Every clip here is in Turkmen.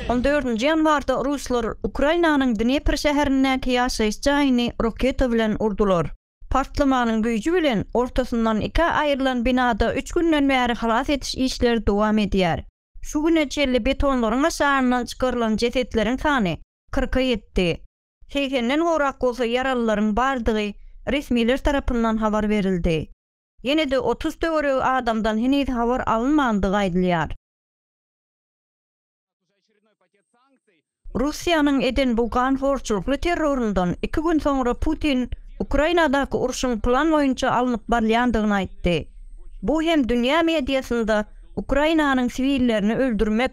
On dördünji ýanwarda ruslar Ukrainanyň Dnepr şäherindäki ýaşaýyş jaýyny roketa bilen urdular. Partlamanyň güýji bilen ortasyndan ikä aýrylan binada üç günden bäri halas ediş işleri dowam edýär. Şu güne çenli betonlaryň aşagyndan çykarylan jesetleriň sany kyrka ýetdi. Segsenden gowrak bolsa ýaralylaryň bardygy resmiler tarapyndan habar berildi. Ýene-de otuz töweregi adamdan heniz habar alynmandygy aýdylýar. Russiýanyň eden bu ganhorçulykly terroryndan iki gün soňra Putin Ukrainadaky urşuň plan boýunça alnyp barylýandygyny aýtdy. Bu hem dünýä mediasynda Ukrainanyň siwillerini öldürmek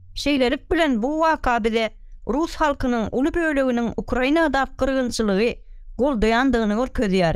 Şeýlelik bilen bu waka bize rus halkynyň uly böleginiň Ukrainadaky gyrgynçylygy goldaýandygyny görkezýär.